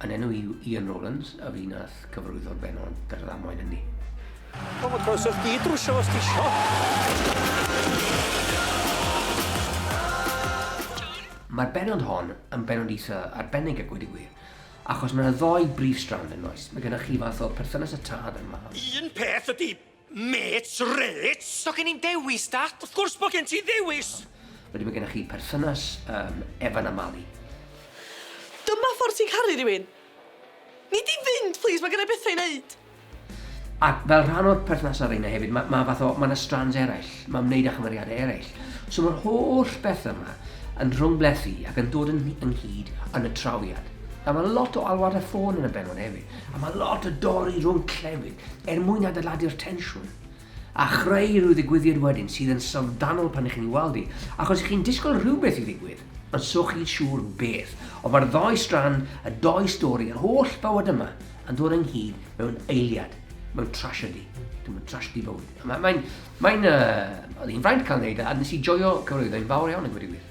Yn enw i Ian Rowlands, a fi nath cyfarwyddo'r benod yr ddamwain hynny. O, mae croeso chdi drwsio os ti isio. Mae'r benod hon yn benod eitha arbennig a gweud y gwir, achos mae yna ddoi brif strand yn oes. Mae gennych chi fath o perthynas y tad a'r mab. Un peth ydy, Mêt, rêt! Does gen i'm dewis, Dad! Wrth gwrs bod gen ti ddewis! Wedyn mae gennych chi perthynas yym Evan a Mali. Dyma ffordd ti'n caru rhywun! Nei di fynd plîs, mae gen i bethau i wneud! Ac fel rhan o'r perthnasau ar reina hefyd, mae fath o, mae yna strands eraill, mae ymwneud â chymeriadau eraill. So mae'r holl bethau yma yn rhwngplethu ac yn dod yn ynghyd yn y trawiad. Nawr mae lot o alwadau ffôn yn y bennod hefyd. A mae lot o dorri rhwng clefyd er mwyn adeiladu'r tensiwn a chreu rhyw ddigwyddiad wedyn sydd yn syfrdanol pan ych chi'n ei weld hi, achos ych chi'n disgwyl rhywbeth i ddigwydd, ond so chi'n siŵr beth. Ond mae'r ddoi strand, y doi stori, yr holl bywyd yma yn dod ynghyd mewn eiliad, mewn trasiedi. Dwi'n mynd trasiedi bywyd. Mae'n... Mae'n... Mae'n... Uh, oedd hi'n fraint cael ei wneud, a nes i joio cyfrwyddo, hi'n fawr iawn yn gwedi'r wir.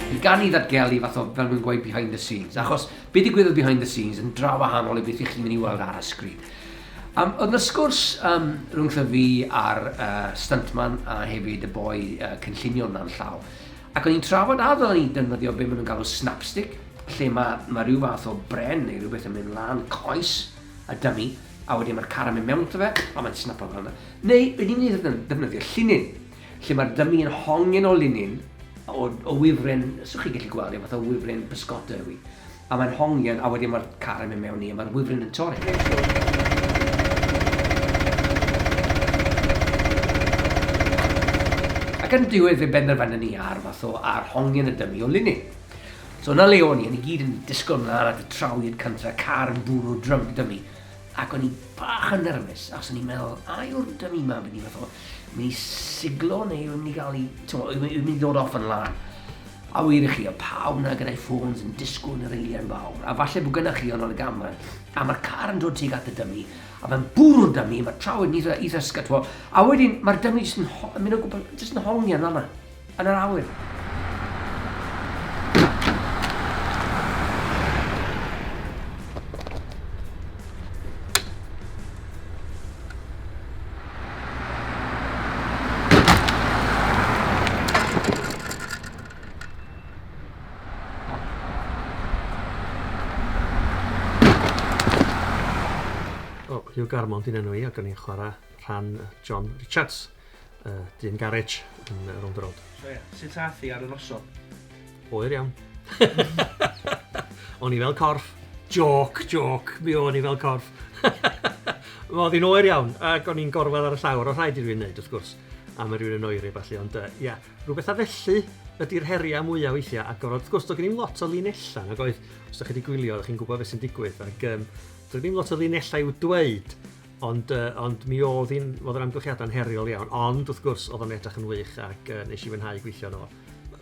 Bydd gan ni ddatgelu fath o, fel mae'n gweud, behind the scenes, achos be digwyddodd behind the scenes yn draw wahanol i beth ych chi'n mynd i weld ar y sgrin. Um, oedd yna sgwrs um, rhwng fi a'r uh, stuntman a hefyd y boi uh, cynllunio na'n llaw. Ac o'n i'n trafod a ddylwn ni defnyddio be maen nhw'n galw snapstick, lle mae, mae rhyw fath o bren neu rhywbeth yn mynd lan coes a dymu, a wedyn mae'r car yn mynd mewn to fe, a mae'n snapo fel yna. Neu, rydyn ni'n defnyddio llinyn, lle mae'r dymi yn hongen o linyn, o, o wifren, so chi gallu gweld e, fath o wifren bysgota yw hi. A mae'n hongen, a wedyn mae'r car yn mynd mewn i, a mae'r wifren yn torri. Ac yn diwedd fe benderfyna ni ar fath o ar hongen y dymi o linyn. So yna le o'n i, o'n i gyd yn disgwyl mlaen at y trawiad cyntaf, car yn bwrw drwm dymi. Ac o'n i bach yn nerfus, achos o'n i'n meddwl, a yw'r dymu ma yn mynd i fath o, mynd i siglo neu yw'n mynd i gael ei, yw'n mynd i ddod off yn lan. A wir i chi, o pawb na gyda'i ffôns yn disgwyl yn yr eiliau'n fawr, a falle bod gynnach chi ond ar y gamau, a mae'r car yn dod tuag at y dymu, a mae'n bwrw'r dymu, mae traw yn eitha, eitha sgytfo, a wedyn mae'r dymu jyst yn, yn mynd o gwbl, jyst yn hongi yn fanna. Yn yr awyr. Hugh Garmond yw enw i ac o'n i'n chwarae rhan John Richards. uh, dyn garej yn uh, rownd y rownd. So ie, sut ath i ar y noson? Oer iawn. o'n i fel corff. Joc, joc, mi o'n i fel corff. Oedd hi'n oer iawn, ac o'n i'n gorfod ar y llawr, o rhaid i rwy'n neud, wrth gwrs, am yr rwy'n yn oeri, falle, ond, uh, ia, rhywbeth a felly, ydy'r heriau mwyaf weithiau agor. Wrth gwrs, doedd gen i'n lot o linellau, nag oedd, os ydych chi wedi gwylio, ydych chi'n gwybod beth sy'n digwydd, ac um, doedd gen i'n lot o linellau i'w dweud, Ond, yy, ond mi oedd hi'n... oedd yr amgylchiadau'n heriol iawn, ond wrth gwrs oedd o'n edrych yn wych ac uh, nes i fwynhau gweithio yno.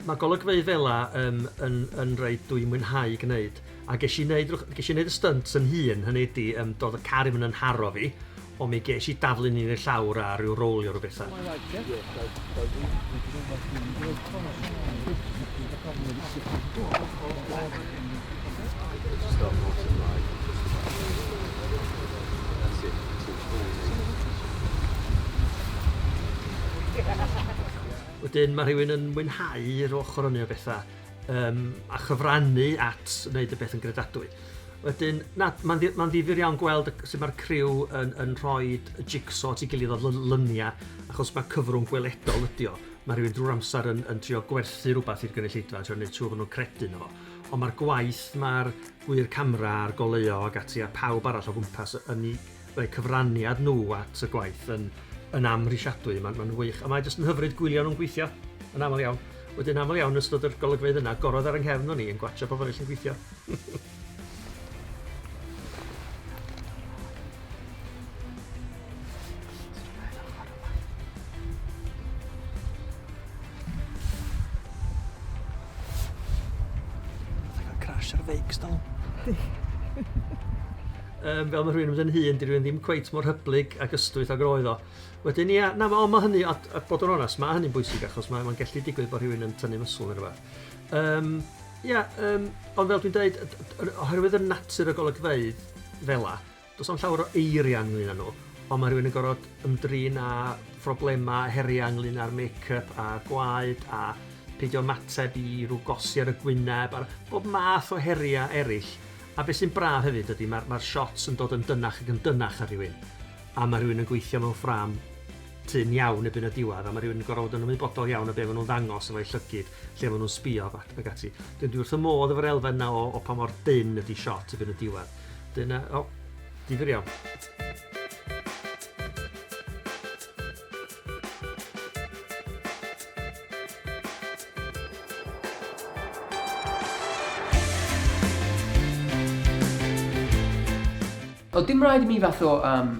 Mae golygfeydd fela um, yn, yn rhaid dwi'n mwynhau gwneud, a ges i wneud, ges i wneud y stunt yn hun, hynny ydi, um, doedd y car yn haro fi, o mi ges i daflu ni'n ei llawr a rhyw rowlio rhyw bethau. Wedyn ma' rhywun yn mwynhau'r ochr hynny o betha yym a chyfrannu at wneud y peth yn gredadwy. Wedyn na, ma'n ddi- ma'n ddifyr iawn gweld y- sut ma'r criw yn yn rhoid y jig-so at ei gilydd o l- lynia achos ma' cyfrwng gweledol ydi o. Mae rhywun drwy'r amser yn, yn trio gwerthu rhywbeth i'r gynulleidfa, trio gwneud siŵr bod nhw'n credu nhw. Ond mae'r gwaith, mae'r gwyr camera a'r goleuo ac ati a pawb arall o gwmpas yn ei rhoi cyfraniad nhw at y gwaith yn, yn amhrisiadwy. Mae'n ma wych. A mae jyst yn hyfryd gwylio nhw'n gweithio, yn aml iawn. Wedyn aml iawn ystod yr golygfeydd yna, gorodd ar yng nghefn o'n i yn gwachio pobl eraill yn gweithio. crash ar feics dal. um, fel mae rhywun yn mynd yn hun, di rhywun ddim cweit mor hyblyg ac ystwyth ag roedd o. Wedyn, ia, na, mae ma hynny, a, a bod yn onest, mae hynny'n bwysig achos mae'n ma, ma gellu digwydd bod rhywun yn tynnu mysl yn rhywbeth. Um, Ia, yym, ond fel dwi'n deud, oherwydd y natur o golygfeydd fela, does na'm llawer o eiriau ynglyn â nhw, ond mae rhywun yn gorfod ymdrin â phroblemau, heriau ynglyn â'r make-up a gwaed a peidio ymateb i rhyw gosi ar y gwyneb a'r bob math o heriau eraill. A beth sy'n braf hefyd ydy, mae'r mae shots yn dod yn dynach ac yn dynach ar rhywun, a mae rhywun yn gweithio mewn ffrâm tynn iawn erbyn y diwedd a ma' rhywun yn gor'o' fod yn ymwybodol iawn o be' ma' nhw'n ddangos efo'u llygid, lle ma' nhw'n sbïo ac ac ati. Dwi dwi wrth fy modd efo'r elfen 'na o o pa mor dynn ydi shot erbyn y diwedd. Dyna, o, difyr iawn. O, dim raid i mi fatho yym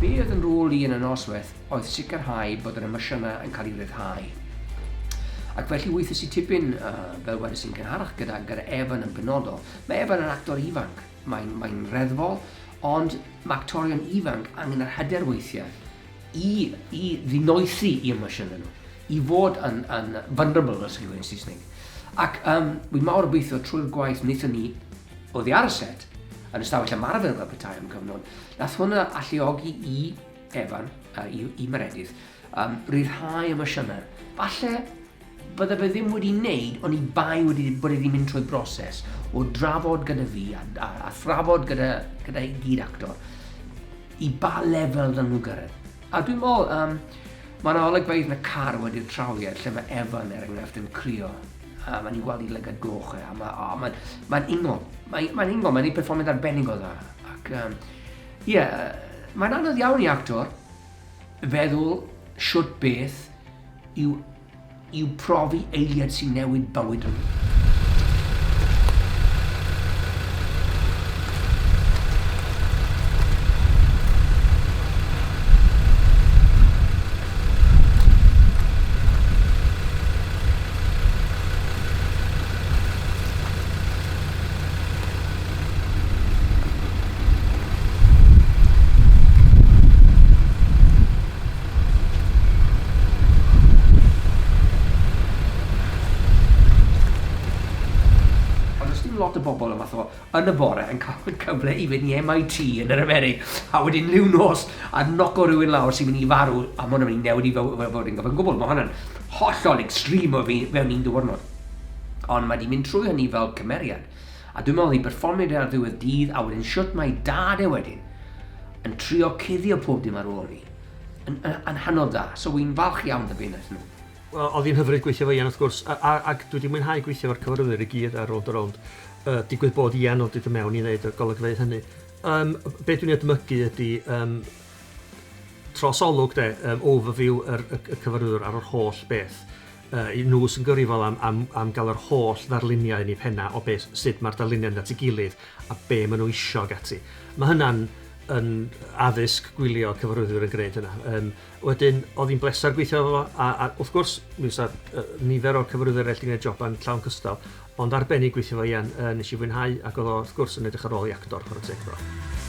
Be oedd yn rôl i yn y noswaith oedd sicrhau bod yr emosiynau yn cael ei ryddhau. Ac felly weithiau sy'n tipyn, uh, fel wedi sy'n gynharach gyda, gyda Evan yn benodol. Mae Evan yn actor ifanc, mae'n mae reddfol, ond mae actorion ifanc angen yr hyder weithiau i i ddinoesi i emosiynau nhw, i fod yn yn vulnerable fel sy'n gwneud Saesneg. Ac um, wi mawr obeithio trwy'r gwaith wnaethon ni oddi ar y set yn ystafell ymarfer fel petai am cyfnod, nath hwnna alluogi i Evan, uh, i, i Meredith, um, rhyddhau emosiynau. Falle Bydda fe ddim wedi neud oni bai wedi bod e wedi mynd trwy broses o drafod gyda fi a, a, a thrafod gyda, gyda i gyd actor i ba lefel dda nhw gyrraedd. A dwi'n meddwl, um, mae yna olygfeydd yn y car wedi'r trawiad lle mae Evan er enghraifft yn crio a mae'n i'n gweld i lygad goch e, a mae'n oh, ma, ma ingol, mae'n ma ingol, mae'n ei perfformiad arbennig o dda. Ac, um, ie, yeah, mae'n anodd iawn i actor, feddwl shwt beth yw yw profi eiliad sy'n newid bywyd rhywun. Ond does dim lot o bobl y math o, yn y bore, yn cael y cyfle i fynd i MIT yn yr Amerig, a wedyn liw nos a noco rhywun lawr sy'n mynd i farw, a mae hwnna'n mynd i newid i fywyd fy, fy, fy, fy, gwbl. Mae hwnna'n hollol extreme o fi, mewn un diwrnod. Ond mae di mynd trwy hynny fel cymeriad. A dwi'n meddwl oedd hi'n perfformiad da ar ddiwedd dydd a wedyn shwt mae dad e wedyn yn trio cuddio pob dim ar ôl hi. Yn, yn, yn hynod dda. So wy'n falch iawn da be wnaeth nhw. Wel, oedd hi'n hyfryd gweithio efo Ian wrth gwrs, a, a, ac dwi wedi mwynhau gweithio efo'r cyfarwyddwyr i gyd ar Rownd a Rownd. Uh, digwydd bod Ian oedd wedi dod mewn i wneud y golygfeydd hynny. Um, be dwi'n ei edmygu ydy um, trosolwg de, um, overview yr, y, y cyfarwyddwr ar yr holl beth. Y nhw sy'n gyfrifol am am am gael yr holl ddarluniau yn eu pennau o beth... sut mae'r darluniau yn mynd at ei gilydd a be maen nhw isio ac ati. Mae hynna'n yn addysg gwylio cyfarwyddwyr yn gwneud hynna. Yym wedyn oedd hi'n bleser gweithio efo fo a a wrth gwrs mi fysa yy nifer o'r cyfarwyddwyr eraill 'di gwneud joban llawn cystal ond arbennig gweithio efo Ian yy wnes i fwynhau ac oedd o wrth gwrs yn edrych ar ôl ei actor chwarae teg iddo fo.